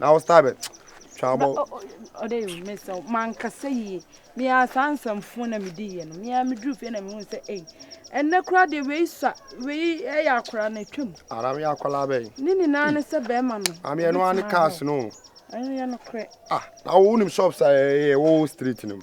na wo star bɛ twa abɔ. ɔdɛ yi mesa o mankasa yie mea saa nsɛmfoɔ na medi yɛ no mea meduru fie na mehu sɛ ei ɛnɛ kora deɛ wei sua wei ɛyɛ akora na atwam ara meyɛ akwadaa bɛyi ne nyinaa ne sɛ bɛrima no ameɛ no ane cars no ɛno yɛ no korɛ ah na wonim shops a ɛyɛ wo street no mu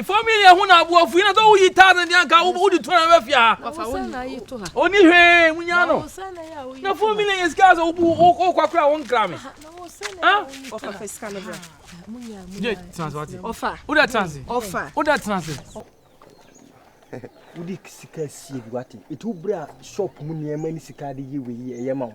Fam yi yɛ ho na aboa fui na sɛ woyi taa no deɛ anka wode tu na ɛbɛ fia ha ɔni hwee munya no na fam yi yɛ sika sɛ wokɔ kora wo nkra me wodɛ transe wodɛ transe wode sika sie bi wate ɛti wobrɛ a shop mu nneɛma ne sika de yɛ wei ɛyɛ ma wo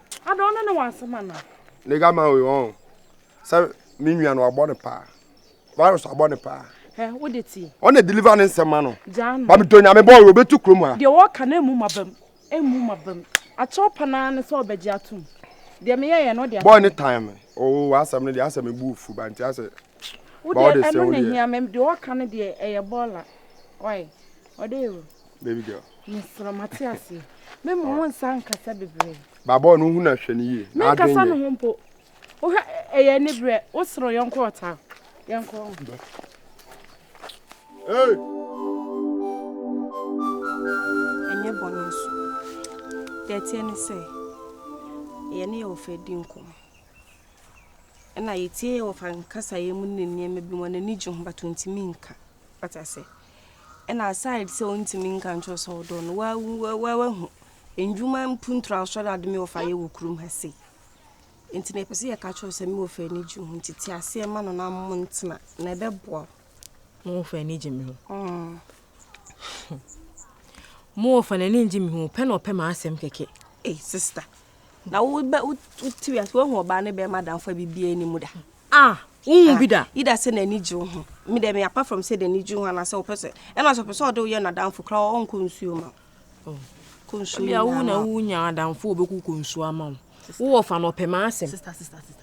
Ada ɔno ne w'asɛm ana? Ne ga ma wei wɔn sɛ me nua no abɔ ne paa virus abɔ ne paa. Ɛ wo de ti. Ɔn na deliver ne nsɛm ma no. Gyaa no. Ba me dɔ nyame bɔ obetu kurom ha. Deɛ wɔka no emu ma bam emu ma bam akyɛw pa naa ne sɛ ɔbɛgye atom deɛ meyɛ yɛ no ɔde. Bɔ ne time o w'asɛm no deɛ asɛ me bu fu ba nti asɛ. Wo deɛ ɛno na ehia me deɛ ɔka no deɛ ɛyɛ bɔɔla ɔyɛ. Ɔde ewu. Baby girl. Mesrɛ mate aseɛ. Me ma wo nsa nkasa bebree. Baabɔ no ho na hwɛ no yie. Me nkasa no ho mpo. Wohwɛ ɛyɛ ani berɛ. Wo soro yɛnkɔ ɔtaa. Yɛnkɔ ho. Hey! Ɛnyɛ bɔne nso. Deɛ ɛteɛ ne sɛ yɛne yɛ wɔfa di nkɔmmɔ. Ɛna yɛtie yɛ wɔfa nkasaeɛ mu ne nneɛma bi mu a n'ani gye ho but ɔntumi nka. Wate aseɛ? na aside sɛ ɔntumi nka nkyerɛ sɛ ɔdɔ no wahu ndwuma mpuntura asɔre ade me wɔfa yɛ wɔ kurom ha sei nti na yɛpɛ sɛ yɛka kyerɛ sɛ me wɔfa ani gye ho nti te aseɛ ma no na mo ntena na ɛbɛboa mo wɔfa ani gye me ho mm. mo wɔfa n'ani gye me ho pɛ na ɔpɛ ma asɛm kɛkɛ ei sister na wotiri ase woahu ɔbaa ne bɛrima damfa biribiaa anim da Ah wonhu bi da. Either sɛ n'ani gye wo ho. Me dɛ me apart from sɛ n'ani gye wo ho anaasɛ ɔpɛ sɛ ɛna sɛ ɔpɛ sɛ ɔde wo yɛ n'adamfo koraa a ɔnkɔ nsuo ma wo. Oh. Kɔ nsuo Ebia wo nyinaa na ma wo. wonya adamfo a ɔbɛkɔ kɔ nsuo ama wo. Wo wɔfa no ɔpɛ m'asɛm. Sister, sister, sister, sister.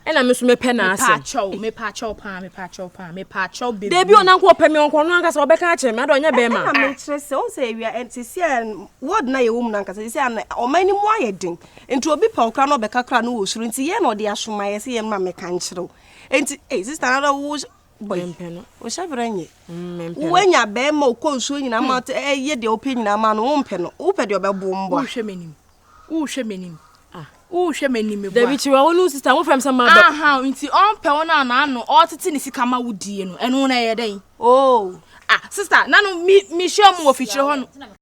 Ɛna me nso mepɛ n'asɛm. Mepaakyɛw, mepaakyɛw paa, mepaakyɛw paa, mepaakyɛw bebree. Dabi o, na nka ɔpɛ me ɔnkɔ ɔno ankasa ɔbɛka akyerɛ me, ada ɔnyɛ Ɛ- bɛrima. Ɛna mekyerɛ sɛ, wohu sɛ awia ɛn- seesei a ward no a yɛwɔ mu no ankasa seesei a na ɔman no mu ayɛ den. Nti obi pɛw koraa na ɔbɛka koraa no wɔ suro nti yɛn na ɔde asoma yɛ sɛ yɛn ma mɛka nkyerɛw nti ei sista na wo bɔi wo hyɛ berɛ nyɛ mm, woanya bɛrima ɔkɔ nsuo nyinaa ma hmm. ɛyɛ deɛ wopɛ nyinaa ma no wompɛ no wopɛ deɛ ɔbɛbo mbɔ wohwɛ m'anim wohwɛ m'anim ah. wohwɛ m'anim meboa dabi kyerɛ wo no sista wofrɛ m sɛ mabɛ aha nti ɔmpɛ wo no anaano ɔtete ne sika ma wodie no ɛno na ɛyɛ dɛn o oh. ah sista na no mehyɛ mu wɔ fikyerɛ hɔ no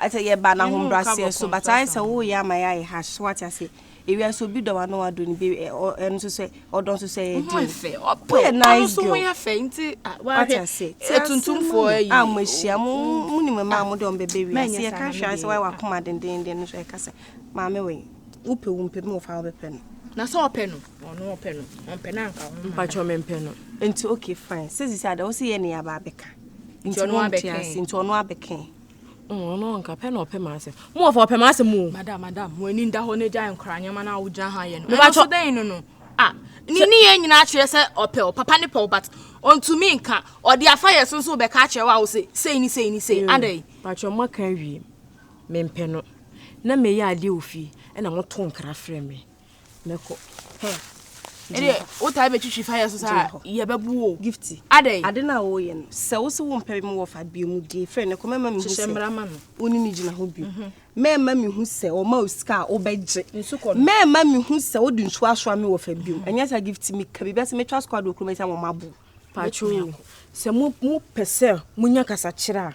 Sɛ yɛba no ahobrɛaseɛ so but ayɛ sɛ woyɛ ama yɛayɛ harsh so wate aseɛ ewia nso obi dɔ wa na wadɔ ne bi ɛno nso sɛ ɔdɔ nso sɛ ɛyɛ den woyɛ nice girl wate aseɛ sɛ atuntumfoɔ ayi a mo ahyia mo mo nim mmaa mo de wɔn bɛbɛ wi aseɛ yɛka hwɛ sɛ wayɛ wakoma dendenden no so ɛka sɛ maame wei wopɛ wo mpɛ mu wɔfa wobɛpɛ no na sɛ ɔpɛ no ɔno ɔpɛ no ɔmpɛ no anka ho mpakyɛ mempɛ no nti okay fine sɛ sisi ada wo sɛ yɛ ne yɛaba abɛka nti ɔno abɛka nti ɔno abɛka Mm, ɔno ɔnka pɛ na ɔpɛ m'asɛm mo wɔfa ɔpɛ m'asɛm mu madam madam mo ani da hɔ no gya nkora nneɛma no a wogyina ha yɛ no ɛnso dɛn no no a ne ne yɛ nyinaa kyerɛ sɛ ɔpɛ wo papa ne pɛw but ɔntumi nka ɔde afa yɛ so nso bɛka akyerɛ wo a wo se sei ne sei ne sei adɛn patwɛ mo aka awie mempɛ no na meyɛ adeɛ wɔ fie ɛna moto nkra frɛ me mɛkɔ hɛn. ɛdeɛ wotaa bɛtwitwi fire so saa yɛbɛbu o gifti adɛn ade no a wɔyɛ no sɛ wo se wo mpɛ me wɔ fa bio mu die fɛ no kɔ mɛma mehu sɛ wo ne no gyina ho bio mhm. mɛma mehu sɛ ɔma wo sika a wobɛgye mɛma mehu sɛ wode nsuo asoa me wɔ fa bio mhm. ɛnyɛ sɛ gifti meka biribi sɛ metwa squad wɔ kurom sɛ wɔmabo patro sɛ mopɛ sɛ monya kasakyerɛ a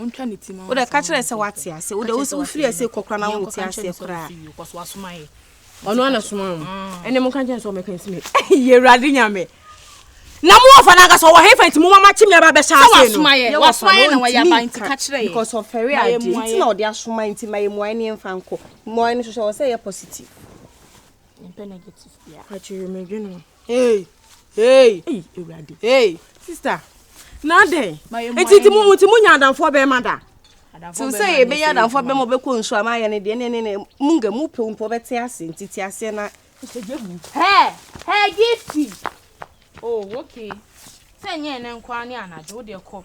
ɔntwa ne ti ma wode ka kyerɛ sɛ wate ase wode wofiri ase kɔkora na wote aseɛ koraa ɔno ana soma wo ah. ɛne moka kyɛn sɛ ɔmɛka nsi me yɛ awurade nyame na mo wɔfa no ankasa ɔwɔ hefa nti moma makye me aba bɛhyɛ ase no because ɔfɛre adeɛ nti na ɔde asoma nti ma yɛ mmuae ne ɛmfa nkɔ mmuae no hwehwɛ wɔ sɛ yɛ positive mpɛ negative bia akyerɛ medwene Hey, hey, hey, Ewurade. Hey, sister. Na adɛn? Nti nti mo nti mo nya adamfoɔ bɛrima da. Ti sɛ yɛbɛnya adamfoɔ bɛrima ɔbɛkɔ nsu ama ayɛ ne deɛ ne ne ne mu nga mu pɛ mpo ɔbɛte ase nti te aseɛ na. Hɛ hɛ gifti. Oh okay. Sɛ nyɛ ɛnɛ nkoa ne anadwo wodeɛ kɔ.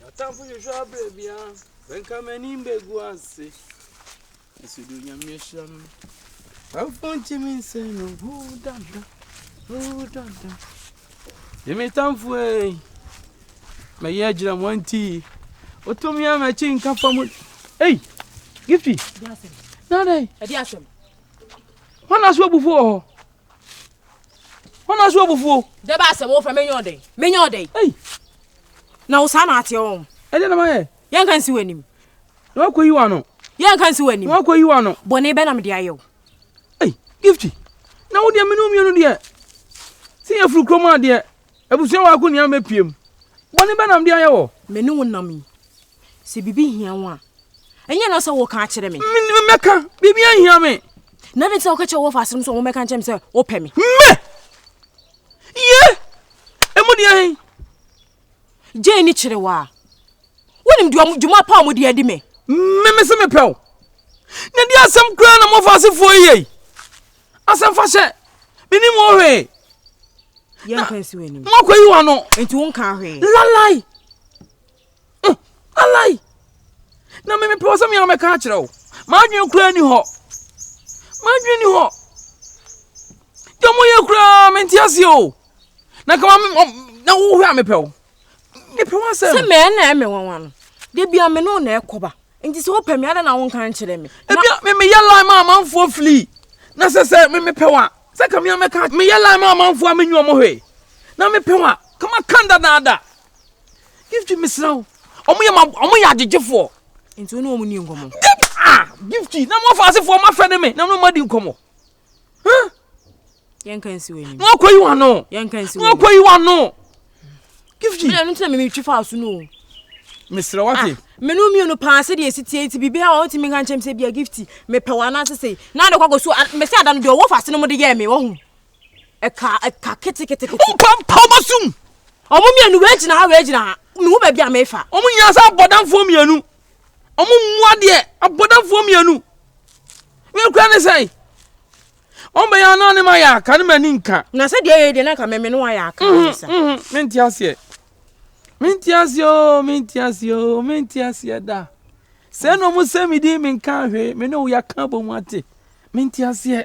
M'atamfo hwehwɛ abrɛ biara, bɛnka m'anim bɛgu ase. Nso de onyame ahyira me. Afo ntumi nsɛ no, huu dada, huu dada. Ne me tamfo ei, mɛyɛ agyina mo anti. Otumi a m'akyi nka fa mu. Ei, gifti. Nana. Ɛdi asɛm. Hɔn aso abufuo wɔ hɔ. Wọn na so abufuo. Dɛ baa sɛ wɔfrɛ menyɛ ɔdɛn menyɛ ɔdɛn. Ei. Na wo saa na ateɛ wɔn. Ɛdeɛ na mayɛ. Yɛn ka nsi w'anim. Na wakɔ yi w'ano. Yɛn ka nsi w'anim. Na wakɔ yi w'ano. Bɔne bɛ na mede ayɛ wo. Ei, Gifty. Na wo deɛ mene wo mmienu deɛ. Sɛ yɛfiri kurom adeɛ. Abusua wɔ ako nea mepie mu. Bɔne bɛn na mede ayɛ wɔ. Me ne wo nam yi? Sɛ biribi hia wo a. Ɛnyɛ na sɛ woka akyerɛ me. Me ne mɛka, biribi anhia me. Na adɛn nti na woka kyerɛ wɔfa asɛm sɛ wɔmmɛka nkyerɛ me sɛ wopɛ me? Me! Ye! Emu deɛ he? Gye ne kyerɛ wo a. Wonim dwuma pa a wɔde adi me. Me mese mepɛ wo. Na di asɛm koraa na mofa asefoɔ yei. asɛmfa sɛ menim wo hwee moakɔ yi wa no nti wo nka hwee lalai mm, lalai na memepɛ wɔ sɛ mea mɛka akyerɛ wo maadwene koraa ni hɔ maadwene ni hɔ deɛ moyɛ koraa mente ase o na kama na wohwɛ a mepɛ wo mepɛ ho asɛm sɛ mɛɛ na ɛmɛ nwanwa no da bia me ne wo na ɛkɔba nti sɛ wopɛ me ada na wonka nkyerɛ me ebia memeyɛ line ma amanfoɔ fili na sɛ sɛ memepɛ wa sɛ ka mea mɛka meyɛ line ma amanfoɔ a menyi ɔmo hwee na mepɛ wa kama kan dadaada gifti mesrɛ wo ɔmo yɛ ma ɔmo yɛ agyegyefoɔ nti wo ne ɔmo ni nkɔmmɔ ah gifti na mo afasefoɔ mafɛ ne me na mo ma di nkɔmmɔ na wakɔ yi wa no na wakɔ yi wa no gifti. mi na ɛnu ti na mi mi twi fa so no. mesrɛ wate. menu mmienu paa sɛ deɛ ɛsi tie nti biribi a ɔntumi nka nkyɛm sɛ bia gifti mepɛ wɔ anaase sei na ade kɔkɔ so mɛsɛ ada no deɛ ɔwɔ fa se no mo de yɛɛ me wɔho ɛka ɛka ketekete. ɔmpa mpa ɔmɔ sum. ɔmo mmienu wɛgyina ha wɛgyina ha mehu baabi a mefa. ɔmo nyinaa sɛ abɔdanfoɔ mmienu. Ɔmo mmoa deɛ abɔdafoɔ mmienu. Wei kura ne sɛn? Ɔmo bɛyɛ ano ne ma yɛ aka ne ma ni nka. Na sɛ deɛ yɛ deɛ na nka mɛmɛ no ayɛ aka ne mhm, sa. Mhm. Mente aseɛ. Mente aseɛ o, mente aseɛ o, mente aseɛ da. Sɛ na ɔmo sɛ me di me nka ahwee, me ne wo yɛ aka bɔ mu ate. Mente aseɛ.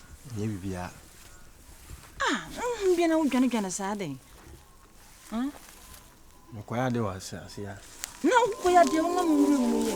Ɛnyɛ biribiara. Ah, honhom bia na wodwanedwane saa dɛn? Hmm? Mekɔyɛ adeɛ wɔ ase ase a. Na wokɔyɛ adeɛ wonam nwura mu yɛ